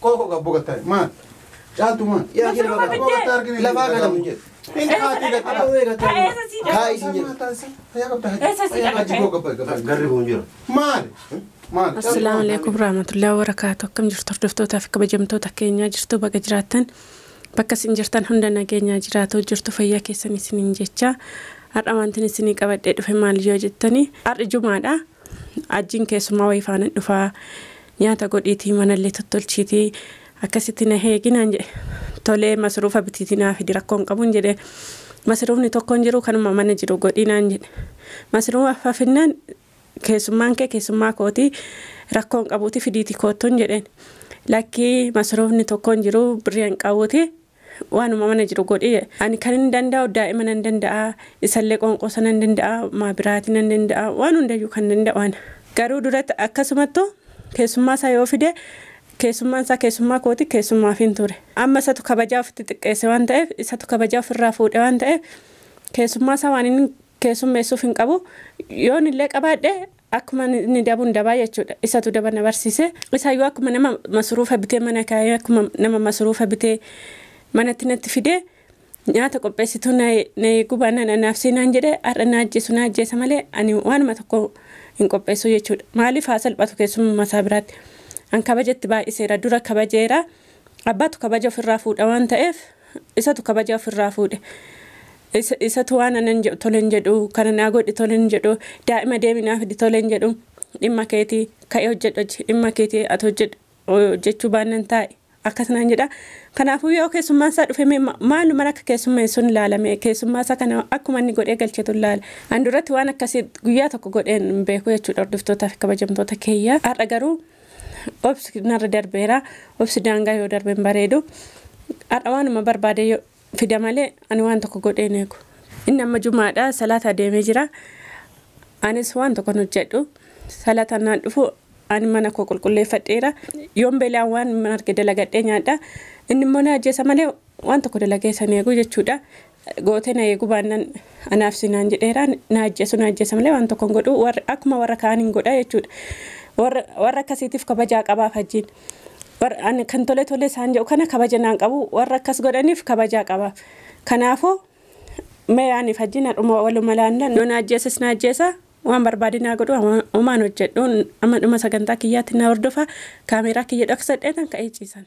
Kooko gabbo gattare maal? Caaltu maal? Yaa jira bakka gabbo gattare argine lafaa galamu jedhe. Inni haati gattare hawwee gattare. Ta'eessa sii jedhe. Taa'ii siin jedhe. Fayyaa qabda haji. Eessa sii jedhe? Haji koo gabba gabba. Garri kun jira. Maal? Maal? Assalaamu alaikum warahmatullahi wabarakaatu. Akkam jirtu hordoftootaa fi kabajamtoota keenyaa jirtu baga jiraattan bakka isin jirtan hunda nageenyaa jiraatu jirtu fayyaa keessan isiniin jecha har'a wantin isinii qabadhee dhufe maal yoo jettani har'i jumaadha. Hajjiin keessummaa wayii faanan dhufa, nyaata godhiitii manallee tottolchiitii akkasitti na eegi naan jedhe. Tolee masruufa bitiitii naa fidi rakkoo hin qabuun jedhe. Masruufni tokko hin jiru kanuma mana jiru godhii naan jedhe. Masruufa finnaan keessummaan kee keessummaa kooti rakkoo hin qabuuti fidiitii koottuun jedheen. Lakkii masruufni tokko hin jiru birrii hin qabuuti Waanuma mana jiru godhi. Ani kanin danda'u daa'ima nan danda'a, isallee qoonqoosa nan danda'a, maa biraati nan danda'a, waan hundayyuu kan danda'u ana. Garuu duratti akkasumattu keessummaasaa yoo fide keessummaansaa keessummaa kooti keessummaafin ture. Amma isatu kabajaa ofitti xiqqeesse waan ta'eef, isatu kabajaa ofirraa fuudhe waan ta'eef keessummaasaa waan inni keessummeessuuf hin qabu. Yoon illee qabaadhe akkuma inni dabuun dabaa jechuudha. Isatu daba na barsiise. Isaayyuu akkuma nama masuruufa bitee mana kaa'ee akkuma nama masuruufa bitee manatti natti fidee nyaata qopheessituu na na eeguu baannaan anaafsii naan jedhe har'a na ajjeesu na ajjeesa malee ani waanuma tokko hin qopheessu jechuudha. Maaliif haa salphatu keessummaa isaa biraatti. An kabajatti baay'iseera dura kabajeera Abbaatu kabaja ofirraa fuudha waan ta'eef isatu kabaja ofirraa fuudhe. Isa- Isatu waan anan jedhu tole hin jedhu, kana naa godhi tole hin jedhu, daa'ima deemi naa fidi tole hin jedhu. Dhimma keeti ka'ee hojjedhu hojji, dhimma keeti ati hojjedhu hojjechuu baannan taa'i. Akkas naan jedha. Kanaafuu yoo keessummaan isaa dhufe mee ma- maaluman akka keessummeessun ilaala mee keessummaa isaa kana akkuma inni godhee galchetu ilaala. An duratti waan akkasii guyyaa tokko godheen hin beeku jechuudha hordoftootaa fi kabajamtoota keeyyaa. Har'a garuu Obsi narra darbeera. Obsi daangaa yoo darbe hin bareedu. Har'a waanuma barbaade yoo fida malee ani waan tokko godhee hin eegu. Inni amma jumaadha salaata adeemee jira. Anis waan tokkon hojjedhu. Salaata naan dhufu ani mana koo qulqulleeffadheera. Yoon beela'an waan hin arge dalagadhee nyaadha. Inni immoo na ajjeesa malee waan tokko dalagee isa hin eegu jechuudha. Gootee na eeguu baannan anaaf si naan jedheera. Na ajjeesu na ajjeesa malee waan tokko hin godhu. Warra akkuma warra kaan hin godha jechuudha. Warra warra akkasiitiif kabajaa qabaaf hajjiin. Warra ani kan tole tole isaan jedhu kana kabaja naan qabu. Warra akkas godhaniif kabajaa qabaaf. Kanaafuu mee aniif hajjiin har'uma waluma laanna. Yoo na ajjeeses na ajjeesa. Waan barbaade naa godhu waan- homaan hojjedhu. Amma dhuma sagantaa kiyyaatti na hordofa. Kaameeraa kiyya dhoksadheetan ka'ee ciisan.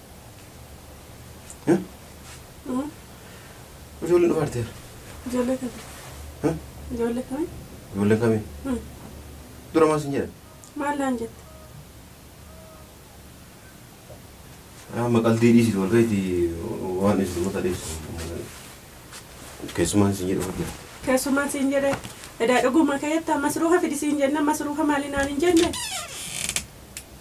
Ijoollee dhufaa jirti yaa. Ijoollee kami? Hah? Ijoollee kami? Ijoolleen kami? Hmm. Dura maal sin jedhan? Maal naan jette? Amma qaldii dhiisitu wal ga'iiti waan dhiisitu mata dhiisu. Keessumaan sin jedhu hojjeta. Keessumaan siin jedhe edaa dhuguma keetta masruuha fidi siin jenna masruuha maali naan hin jenne?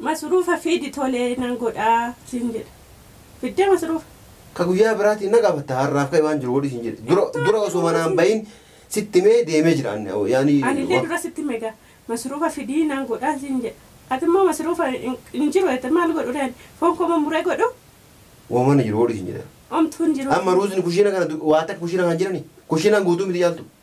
Masruufa fidi tole nan godha siin jedhe. Fiddee masruufa? Ka guyyaa biraatiin na gaafatta har'aaf ka'i waan jiru godhi siin jedhe. Dura Hin dura osoo manaa hin taane. bahin sitti himee deemee jira anni awoo yaani Anillee wa. dura sitti hime gaa. Masruufa fidi nan godha siin jedhe. Atimmoo masruufa hin hin jiru jette maal godhuree ani? Foon koo mummuree godhu? Woma mana jiru godhi siin jedhe. Omtuu hin jiru Amma siin jedhe. ruuzni kushiina kana du waa takka kushiina kana hin jirani? Kushiinaan guutuu miti caaltuu.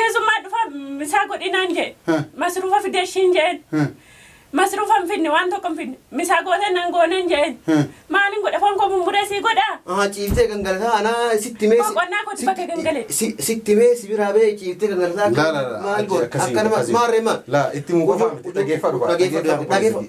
Keessummaa dhufa misaa godhi naan jee. Heh. Masruufa fidee ishiin jeen. Heh. Masruufa hin fidne waan tokko hin fidne. Misaa gootee nan gooneen jeen. Heh. Maaliin godha foon koo mummuree sii godhaa. Aha ciiftee gangalataa anaa sitti mee. Koo qonnaa kooti bakka gangalee. Sitti mee si biraa bee ciiftee gangalataa. Laa laa laa. Maal goota? Akkana maal maarree maal? Laa itti muu qofaa miti dhageeffadhu. Dhageeffadhu.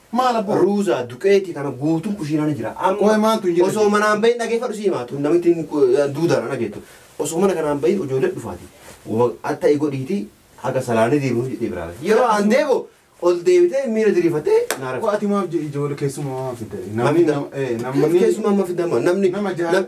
Maal abboo? Ruuzaa, duqeetii kana guutuun kushiinaa ni jira. Amma Qoy maaltu hin jira? osoo manaan bahin dhageeffadhu si himaa tun namittiin ku- duudaan ana geettu. Osoo mana kanaan bahin ijoollee dhufaati. Wa- Atta'i godhiiti haga salaanni deebi'u jedhee biraa bahe. Yeroo an deebi'u ol deebitee miira diriirfattee naa Qoy rafte. ati maaf je- ijoollee keessumaa maaf fidda? Maaf Namni fidda? nam- eh, Namni namni keessumaa amma fidama namni nama jaha- nam-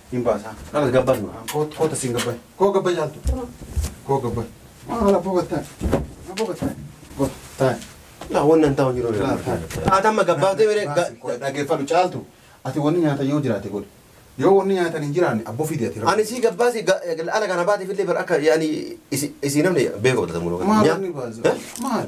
Hin baasaa. Dhala gabbaa nu. Koota siin gabbaa. Koo gabbaa jaaltu. Koo gabbaa. Maal abboo gattaan. Abboo gattaan. Goota. Taan. Laa wanni an taa'u jiru. Laa taan. Ati amma gabbaa ta'e bire. Dhaggeeffadhu caaltu. Ati wanni nyaatan yoo jiraate godhi. Yoo wanni nyaatan hin jiraanne abboo fidi ati. Ani sii gabbaa sii ala kana baatiif illee bar akka yaani isii namni beeku godhatamu. Maal inni baasa? Maal?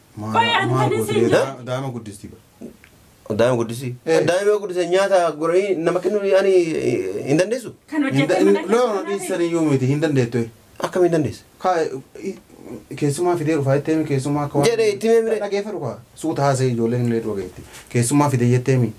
Qoy an kan isin jedhu. Daa'ima guddisti bar. Daa'ima guddisii. Eh. Daa'ima guddisee nyaata goranii nama kennuu ani hin dandeessu. Kan hojjetee mana Loo keessaa dhiissan iyyuu miti hin dandeettu. Akkam hin dandeessu. Kaa keessumaa fidee dhufaa jetteemi keessumaa akka waan. Jedhe itti mee mire. Dhageeffadhu kaa suuta haasa'e ijoolleen illee dhageetti. Keessumaa fidee jetteemi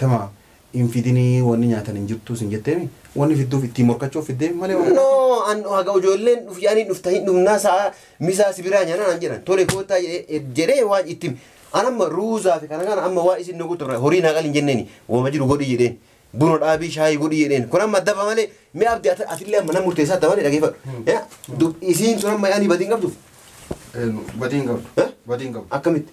tamaa hin fidini wani nyatan hin jirtu sin jetemi wani fiduf itti morkachu fidemi male waan No, an haga ijoolleen dhuf yaanii dhufta hin dhufnaa sa'a misaa si biraa nyaanaa naan jedhan tole koottaa jedhee jedhee waan itti hime. An amma ruuzaa fi kana kana amma waa isin nu guutu horii naa qalin jenneeni wama jiru godhi jedheen buna dhaabii shaayii godhi jedheen kun amma daba malee mee abdi ati- atillee amma nama murteessaa daba malee dhageeffadhu. Ya, dub- Isiin sun amma yaanii badii hin qabduuf Badii hin qabdu. Eh? Badii hin qabdu. akkamitti?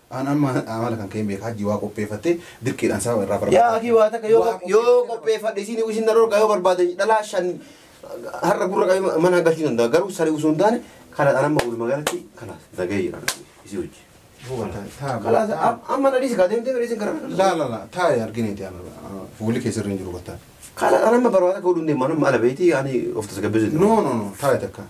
An amma amala kan ka'een beeka hajji waa qopheeffatte dirqiidhaan sababa irraa barbaada. Yaa akii waa takka yoo Waa qop- yoo qopheeffadhe isin isin na dhorgaa yoo barbaadan dhalaa shan har'a gurra qabee mana hagachuu danda'a garuu sari osoo hin taane kana dhaan amma walumaa galatti kana nagahee jira isii hojii. Buufata, taa- Kalaas taa- am- amma na dhiisi kaa deemtee bira isin gara kana. Laa laa laa taa argineeti amma fuulli kee sirri hin jiru battaa. Kana dhaan amma barbaada akka godhuun deemaa nama ala beeyti ani of tasgabbeessu. No no no taa takka.